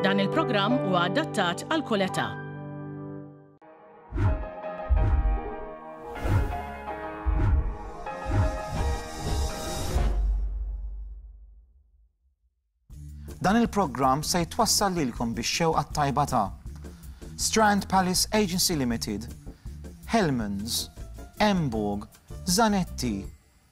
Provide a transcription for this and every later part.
Dan il-programm huwa adattat għal kull età. Dan il-programm se jitwassal lilkom biex xewqa tajba ta' Strand Palace Agency Limited, Hellmans, Emborg, Zanetti,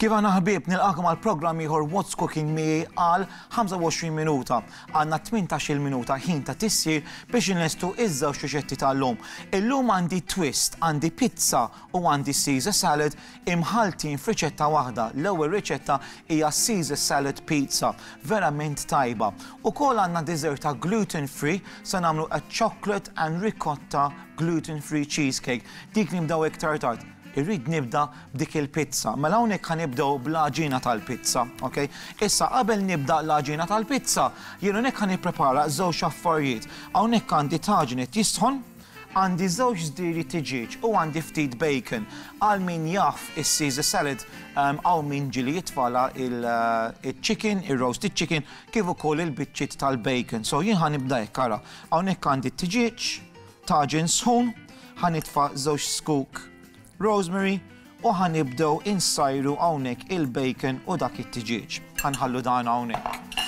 Kif aħna ħbieb, nilqakom għal programm ieħor What's Cooking miegħi għal 25 minuta. Għandna 18-il minuta ħin ta' tissir biex inlestu iż-żewġ riċetti tal-lum. Illum għandi twist, għandi pizza u għandi Caesar salad imħaltin f'riċetta waħda. L-ewwel riċetta hija Caesar salad pizza, verament tajba. Ukoll għandna dessert ta' gluten free se nagħmlu a chocolate and ricotta gluten free cheesecake. Dik nibdew iktar tard. Irrid nibda b'dik il-pizza. Mela hawnhekk ħa nibdew bl-għaġina tal-pizza, ok? Issa qabel nibda l-għaġina tal-pizza, jien hawnhekk ħa nipprepara żewġ affarijiet. Hawnhekk għandi taġin qed jisħon, għandi żewġ żdiri tiġieġ u għandi ftit bacon. Għal min jaf is-Caesar salad, hawn min ġieli jitfagħla il-chicken, ir-roasted chicken, kif ukoll il-biċċiet tal-bacon. So jien ħa nibda hekk, ara. Hawnhekk għandi t-tiġieġ, Taġin sħun, ħa nitfa' żewġ zkuk rosemary u ħa nibdew insajru hawnhekk il-bacon u dak it-tiġieġ. Ħa nħallu dan hawnhekk.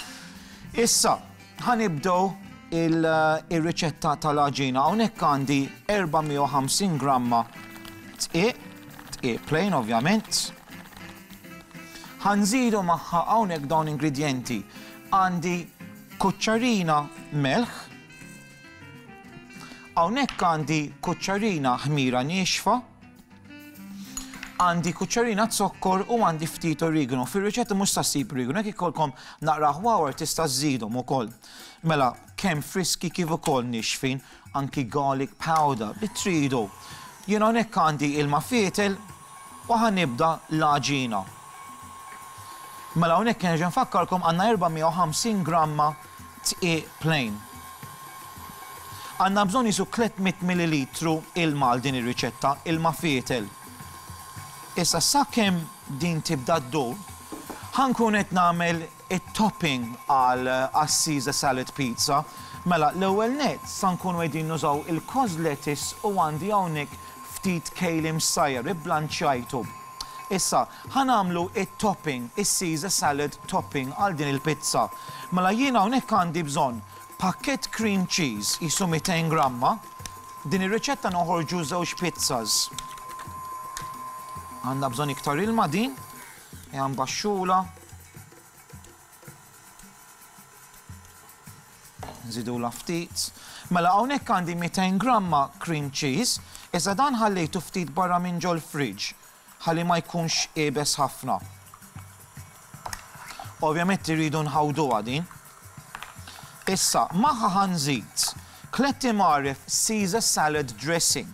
Issa, ħa nibdew ir-riċetta tal-għaġina. Hawnhekk għandi 450 gramma tqiq, tqiq plain ovvjament. Ħa nżidu magħha hawnhekk dawn ingredjenti. Għandi kuċċarina melħ, Hawnhekk għandi kuċċarina ħmira niexfa, għandi kuċċarina zokkor u għandi ftit origano. Fir-riċetta mhux sa ssib origano, jekk ikollkom naqra ħwawar tista' żżidhom ukoll. Mela, kemm friski kif ukoll nixfin, anki garlic powder li tridu. Jien hawnhekk għandi ilma fietel u ħa nibda l-għaġina. Mela hawnhekk nerġa' nfakkarkom għandna 450 gramma T-E plain. Għandna bżonn qisu 300 millilitru ilma għal din ir-riċetta, ilma fietel. Issa sakemm din tibda ddur, ħa nkun qed nagħmel it-topping għal għas-Caesar salad pizza. Mela, l-ewwel nett sa nkunu qegħdin nużaw il-cos lettuce u għandi hawnhekk ftit kale imsajjar, iblanċjajtu. Issa, Ħa nagħmlu it-topping, is-Caesar salad topping għal din il-pizza. Mela jien hawnhekk għandi bżonn pakkett cream cheese qisu 200 gramma. Din ir-riċetta noħorġu żewġ pizzas. Għandha bżonn iktar ilma din, hija mbaxxula. Nżidulha ftit. Mela hawnhekk għandi 200 gramma cream cheese, iżda dan ħallejtu ftit barra minn ġol-fridge. Ħalli ma jkunx iebes ħafna. Ovvjament irridu nħawduha din. Issa, magħha ħa nżid tliet imgħaref Caesar salad dressing.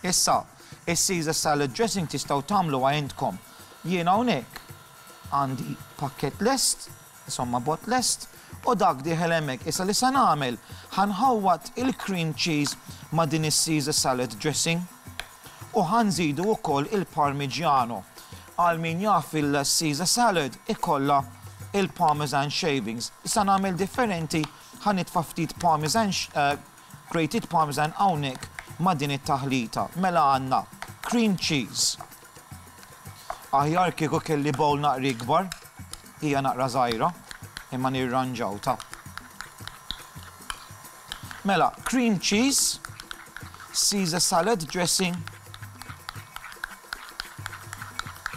Issa, is-Caesar salad dressing tistgħu tagħmluha intkom. Jien hawnhekk għandi pakkett lest, insomma bot lest, u dak dieħel hemmhekk. Issa li se nagħmel, ħa nħawwad il-cream cheese ma' din is-Caesar salad dressing. U ħa nżidu wkoll il-Parmigiano. Għal min jaf il-Caesar salad ikollha il-Parmesan shavings. Issa nagħmel differenti ħa nitfa' ftit Parmesan grated Parmesan hawnhekk ma' din it-taħlita. Mela għandna cream cheese. Aħjar kieku kelli bowl naqra ikbar, hija naqra żgħira, imma nirranġaw ta. Mela, cream cheese, Caesar salad dressing.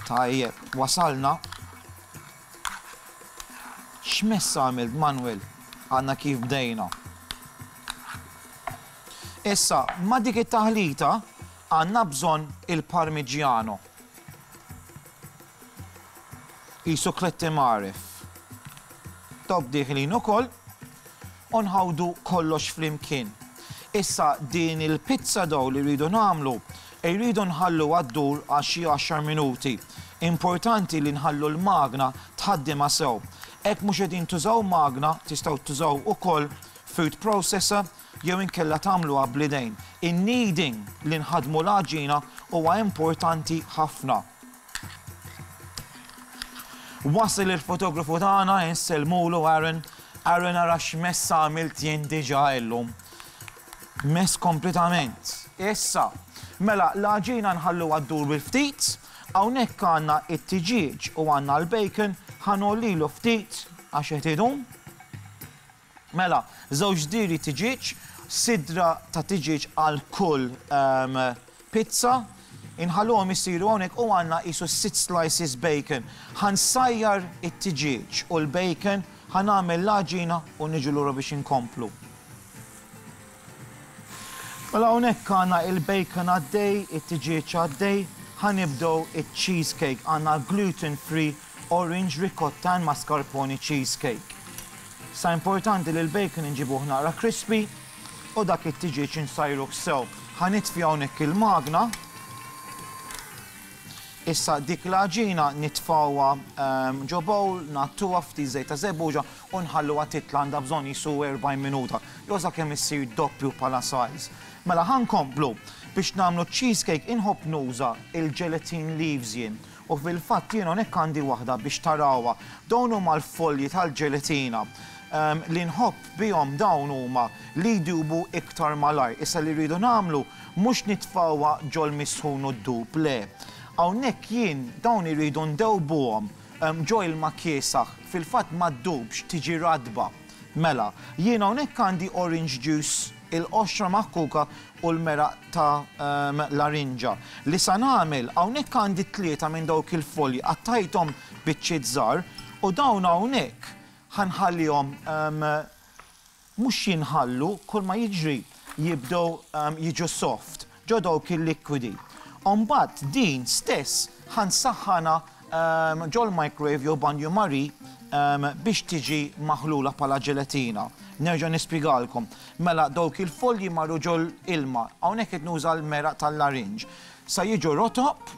Tajjeb, wasalna. X'mess għamilt Manuel? Għandna kif bdejna. Issa, ma dik it-taħlita għandna bżonn il-parmigiano. Qisu Kletti Mgħarref. Dawk dieħlin ukoll u nħawdu kollox flimkien. Issa din il-pizza dough li rridu nagħmlu irridu nħalluha ddur għal xi għaxar minuti. Importanti li nħallu l-magna tħaddimha sew. Hekk mhux qegħdin tużaw magna tistgħu tużaw ukoll food processor jew inkella tagħmluha bl-idejn. In-kneading, li nħaddmu l-għaġina, huwa importanti ħafna. Wasil il-fotografu tagħna insellmulu Aaron. Aaron ara x'mess għamilt jien diġà illum. Mess kompletament. Issa, mela l-għaġina nħalluha ddur bil-ftit, hawnhekk għandna it-tiġieġ u għandna l-bacon, ħanollilu ftit għax qed idum. Mela, żewġ diri tiġieġ, sidra ta' tiġieġ għal kull pizza. Inħalluhom isiru hawnhekk u għandna qisu sitt slices bacon. Ħa nsajjar it-tiġieġ u l-bacon, ħa nagħmel l-għaġina u niġu lura biex inkomplu. Mela hawnhekk għandna il-bacon għaddej, it-tiġieġ għaddej, ħa nibdew iċ-cheese cake. Għandna l-gluten free orange ricotta and mascarpone cheese cake. Issa importanti li l-bacon inġibuh naqra crispy u dak it-tiġieġ insajruh sew. Ħa nitfi hawnhekk il-magna. Issa dik l-għaġina nitfgħuha ġo bowl, ngħattuha f'ftit żejt ta' żebbuġa u nħalluha titla' għandha bżonn qisu 40 minuta, jew sakemm issir doppju bħala size. Mela ħa nkomplu. Biex nagħmlu ċ-cheesecake inħobb nuża il-gelatine leaves jien u fil-fatt jien hawnhekk għandi waħda biex tarawha. Dawn huma l-folji tal-ġelatina. Li nħobb bihom dawn huma li jdubu iktar malajr. Issa li rridu nagħmlu Mhux nitfgħuha ġol-misħun u d-dub, le. Hawnhekk jien dawn irridu ndewbuhom ġo ilma kiesaħ, fil-fatt ma ddubx, tiġi ratba. Mela, jien hawnhekk għandi orange juice, il-qoxra maħkuka u l-meraq ta' l-arinġa. Li sa nagħmel, hawnhekk għandi tlieta minn dawk il-folji, qattajthom biċċiet żgħar, u dawn hawnhekk ħa nħallihom Mhux jinħallu, kulma jiġri jibdew jiġu soft, ġo dawk il-likwidi. U mbagħad din stess ħa nsaħħanha ġol-microwave jew banju marie biex tiġi maħlula bħala ġelatina. Nerġa' nispjegalkom. Mela dawk il-folji marru ġol-ilma, hawnhekk qed nuża l-meraq tal-larinġ, sa jiġu rotob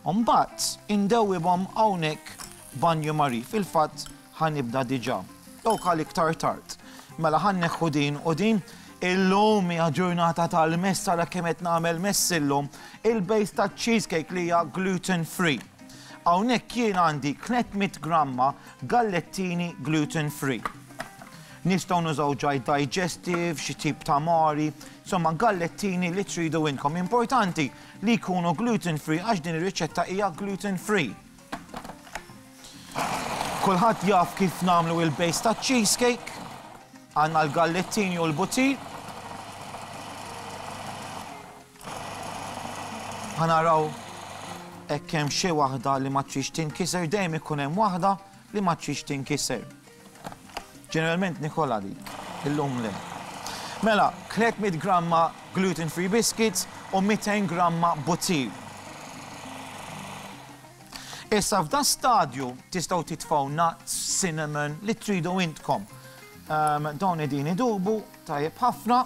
u mbagħad indewwibhom hawnhekk Banju Marie, Fil-fatt ħa nibda diġà. Dawk għal iktar tard. Mela ħa nneħħu din u din. Illum hija ġurnata tal-mess ara kemm qed nagħmel mess illum. Il-base taċ-cheesecake li hija gluten free. Hawnhekk jien għandi 300 gramma gallettini gluten free. Nistgħu nużaw ġaj digestive, xi tip ta' mari, insomma gallettini li tridu inkom. Importanti li jkunu gluten free għax din ir-riċetta hija gluten free. Kulħadd jaf kif nagħmlu il-base ta' cheesecake. Għandna l-gallettini u l-butir. Ħanaraw hekk hemm xi waħda li ma trix tinkiser, dejjem ikun hemm waħda li ma trix tinkiser. Ġeneralment nikolha din, illum le. Mela, 300 gramma gluten free biscuits u 200 gramma butir. Issa f'da stadju tistgħu titfgħu nuts, cinnamon, li tridu intkom. Ehm, dawn edini idubu, tajjeb ħafna.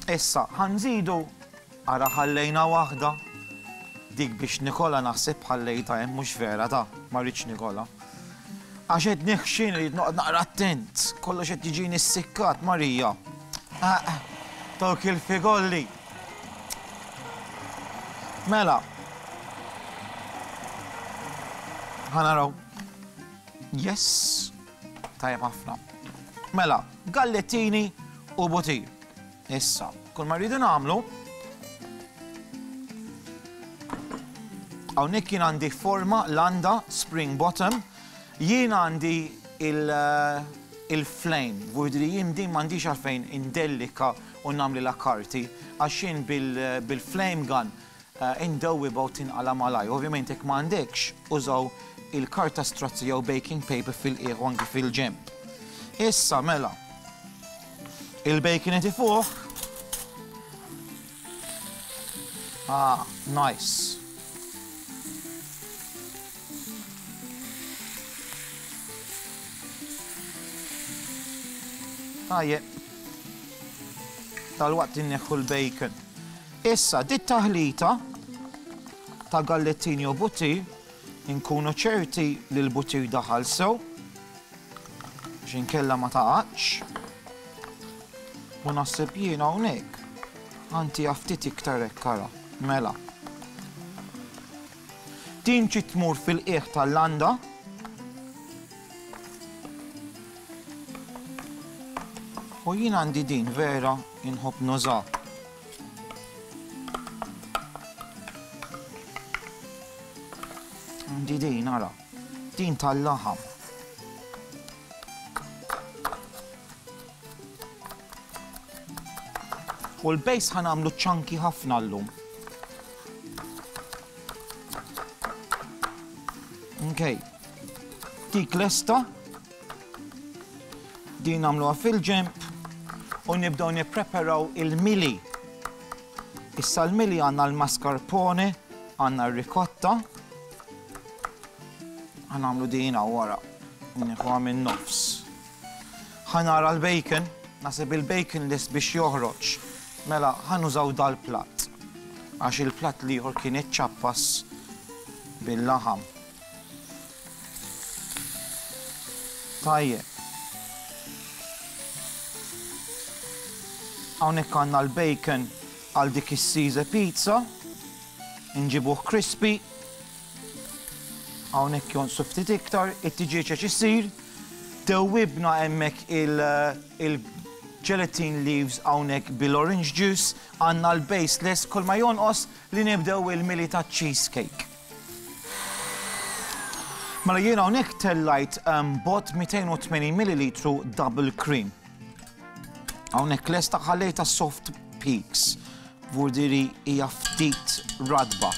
Issa ħa nżidu, ara ħallejna waħda, dik biex Nikola naħseb ħallejtha hemm mhux vera ta, ma rridx Nikola. Għax qed neħxin irid noqgħod naqra attent, kollox qed jiġini ssikkat Marija. Dawk il-figolli. Mela. Ħanaraw. Yes. Tajjeb ħafna. Mela, gallettini u butir. Issa, kull ma rridu nagħmlu Hawnhekk jien għandi forma landa spring bottom, jien għandi il-flame, vurdri jien din m'għandix għalfejn indellika u nagħmli la karti, għax jien bil-flame gun Indewwi b'għod tinqala' malajr. Ovvjament jekk ma għandekx, użaw il-karta strazzi jew baking paper fil-qiegħ u anki fil-ġenb. Issa mela, il-bacon itifuh. Ah, nice. Tajjeb. Tal-waqt inneħħu l-bacon. Issa, dit-taħlita ta' gallettini u butir, inkunu ċerti li l-butir daħal sew, biex inkella ma taqgħadx. U naħseb jien hawnhekk għanti ftit iktar hekk ara. Mela. Din ġiet tmur fil-qiegħ tal-landa. U jien għandi din vera inħobb nuża. Di din, ara, din tal-laħam. U l-bejs ħanamlu ċanki ħafna l-lum. Okay. Dik lesta Din nagħmluha fil-ġemp u nibdew nippreparaw il-mili. Issa l-mili għandna l-mascarpone, għandna r-ricotta. Għanamlu din wara, nħuha minn nofs. Ħanara l-bacon, nasib il-bacon lis biex joħroġ. Mela, ħanużaw dal-plat. Għax il-plat liħor kien iċċappas bil-laħam. Tajjeb. Hawnhekk għandna l-bacon għal dik is-size pizza. Inġibuh crispy. Hawnhekk jonsu ftit iktar, it-tiġieġ għax isir. Dewwibna hemmhekk il-gelatin leaves hawnhekk bil-orange juice, għandna l-base less kull ma jonqos li nibdew il-mili taċ-cheesecake. Mela jiena hawnhekk tellajt ehm, bot 280 ml double cream. Hawnhekk lesta ħallejta soft peaks. Vurdiri hija ftit radba.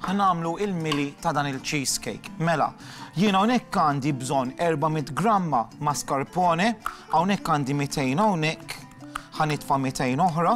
ħanamlu il-mili ta' dan il-cheesecake. Mela, jiena hawnhekk għandi bżonn 400 gramma mascarpone, hawnhekk għandi 200 hawnhekk, ħanitfa' 200 oħra,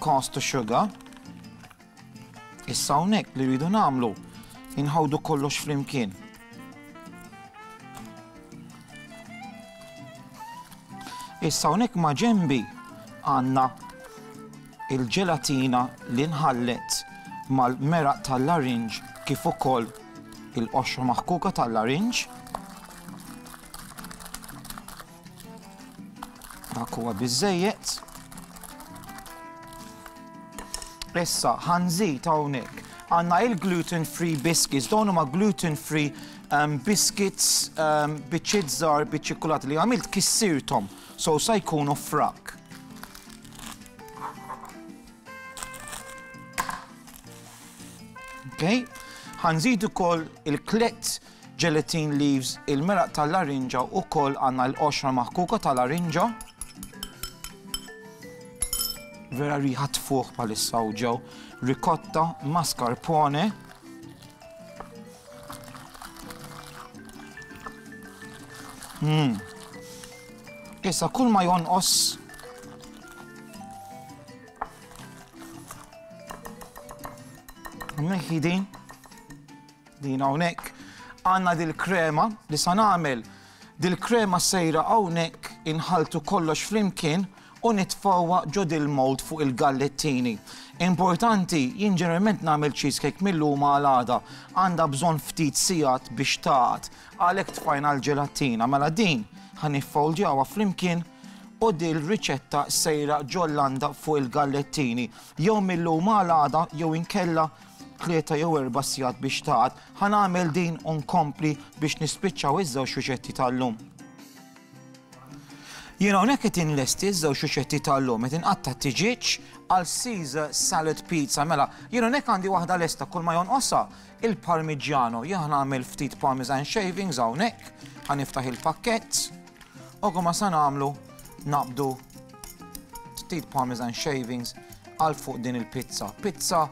Cost to sugar. Issa hawnhekk li rridu nagħmlu inħawdu kollox flimkien. Issa hawnhekk ma' ġembi għandna il-ġelatina li nħallet mal-meraq tal-larinġ kif ukoll il-qoxra maħkuka tal-larinġ. Dak huwa biżejjed. Issa ħanżid hawnhekk għandna il-gluten free biscuits, dawn huma gluten free um, biscuits um, biċċiet żgħar biċ-ċikkulat li għamilt kissirtom, so sa jkunu frak. Okay? ħanżid ukoll il-klett Gelatin leaves, il-meraq tal-larinġa wkoll għandna l-qoxra maħkuka ta' larinġa. Vera riħa tfuħ bħalissa u ġew ricotta, mascarpone. Mm. Issa kull ma jonqos Meħidin. Din hawnhekk għandna dil-krema li sa nagħmel. Dil-krema sejra hawnhekk inħalltu kollox flimkien u nitfgħuha ġo dil-mold fuq il-gallettini. Importanti, jien ġeneralment nagħmel cheesecake mil-lum għal għada. Għandha bżonn ftit sigħat biex tagħad. Għalhekk tfajna l-ġelattina. Mela din ħa niffoldjawha flimkien u dil-riċetta sejra ġol-landa fuq il-gallettini. Jew mil-lum għal għada jew inkella tlieta jew erba' sigħat biex tagħad. Ħa nagħmel din u nkompli biex nispiċċaw iż-żewġ riċetti tal-lum. Jien hawnhekk qed inlesti ż-żewġ riċetti tal-lum qed inqatta' t-tiġieġ għal Caesar salad pizza. Mela, jien hawnhekk għandi waħda lesta kull ma jonqosha il-parmigiano. Jien ħa nagħmel ftit parmesan shavings hawnhekk, ħa niftaħ il-pakkett. Ok, ma sa nagħmlu naqbdu ftit parmesan shavings għal fuq din il-pizza. Pizza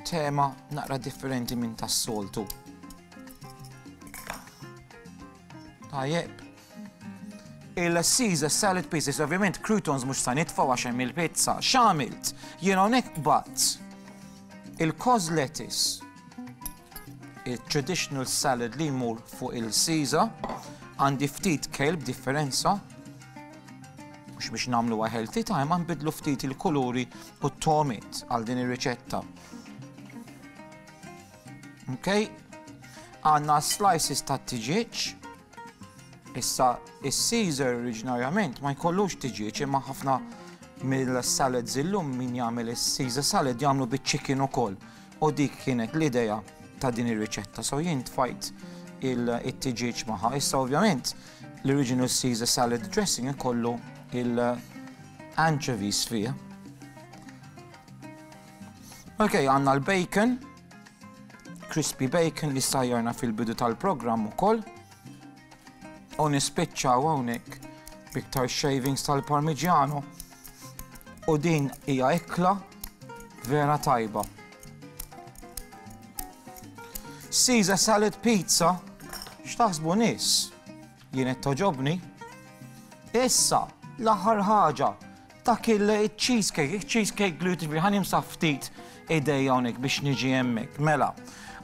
tema naqra differenti minn tas-soltu. Tajjeb. Il-Caesar salad pieces, ovvjament croutons mhux sa nitfgħu għax hemm il-pizza. X'għamilt? Jien hawnhekk bat il-cos lettuce Il-traditional salad li jmur fuq il-Caesar għandi ftit kejl b'differenza mhux biex nagħmlu healthy time ma nbidlu ftit il-kuluri u t-tomit għal din ir-riċetta. Ok, għanna slices ta' tiġieċ, issa il-Caesar oriġinarjament ma jkollux tiġieċ imma ħafna mill-salad zillum min jagħmel il-Caesar salad jagħmlu bit-chicken ukoll. U dik kienet l-idea ta' din ir-riċetta. So jien tfajt il-tiġieġ maħa. Issa ovvjament l-original Caesar salad dressing ikollu il-anchovies fih. Ok, għanna l-bacon, crispy bacon li sajjarna fil-bidu tal-programm ukoll. U nispiċċaw hawnhekk b'iktar shavings tal-parmigiano. U din hija ikla vera tajba. Caesar salad pizza, x'taħsbu nies? Jien qed toġobni. Issa, l-aħħar ħaġa, Dak il-cheesecake, il-cheesecake gluten free, ħani msaf ftit idej hawnhekk biex niġi hemmhekk. Mela,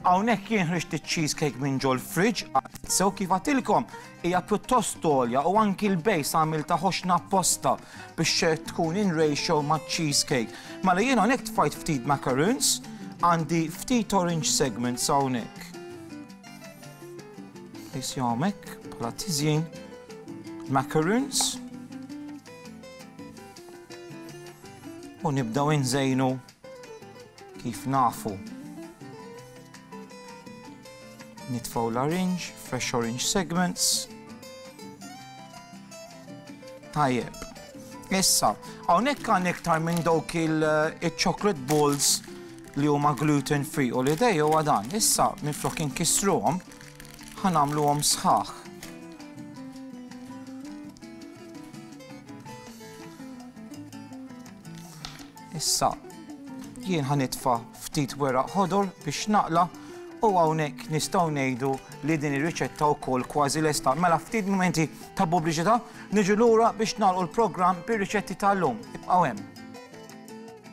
hawnhekk jien ħriġt iċ-cheesecake minn ġol fridge għad sew kif għatilkom hija pjuttost tolja u anki l-bejs għamil ta' ħoxna apposta biex tkun in ratio ma' cheesecake. Mela jien hawnhekk tfajt ftit macaroons, għandi ftit orange segments hawnhekk. Isjawmek, bħala tizjin, macaroons, U nibdaw inżejnu kif nafu. Nitfaw l-orange, fresh orange segments. Tajjeb. Issa, hawnhekk għan iktar minn dawk il-chocolate eh, balls li huma gluten free u li dej huwa dan. Issa, minn flok inkisruhom, Ħa nagħmluhom sħaħ. Issa jien ħa nitfa' ftit weraq ħodor biex naqla' u hawnhekk nistgħu ngħidu li din ir-riċetta wkoll kważi lesta. Mela ftit momenti ta' pubbliċità niġu lura biex nagħlqu l-programm bir-riċetti tal-lum. Ibqgħu hemm.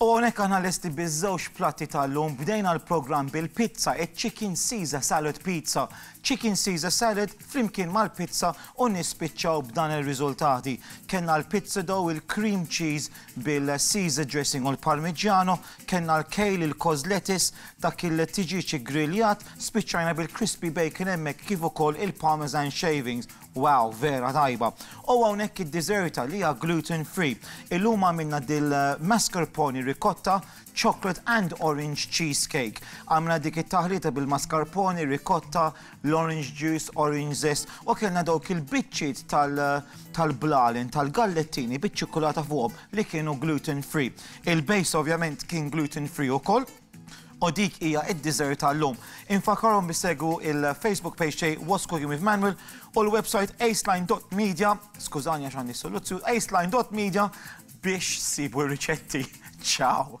U hawnhekk aħna lesti biż-żewġ platti tal-lum, bdejna l-programm bil-pizza, iċ-chicken Caesar salad pizza, chicken Caesar salad flimkien mal-pizza u nispiċċaw b'dan ir-riżultati. Kellna l-pizza dough, il-cream cheese bil-Caesar dressing u l-Parmigiano, kellna l-kale, il-cos lettuce, dak il-tiġieġ iggriljat, spiċċajna bil-crispy bacon hemmhekk kif ukoll il-parmesan shavings. Wow, vera tajba. O hawnhekk id-dessert li hija gluten free. Illum għamilna dil mascarpone ricotta, chocolate and orange cheese cake. Għamilna dik it-taħlita bil mascarpone, ricotta, l-orange juice, orange zest u kellna dawk il-biċċiet tal tal blalen, tal gallettini biċ-ċikkulata fuqhom li kienu gluten free. Il base ovvjament kien gluten free ukoll. u dik hija id-dessert tal-lum. Infakkarhom biex segwu il-Facebook page tiegħi What's Cooking with Manuel u l-website aceline.media, skużani għax għandi soluzzju, aceline.media biex sibu r-riċetti. Ciao!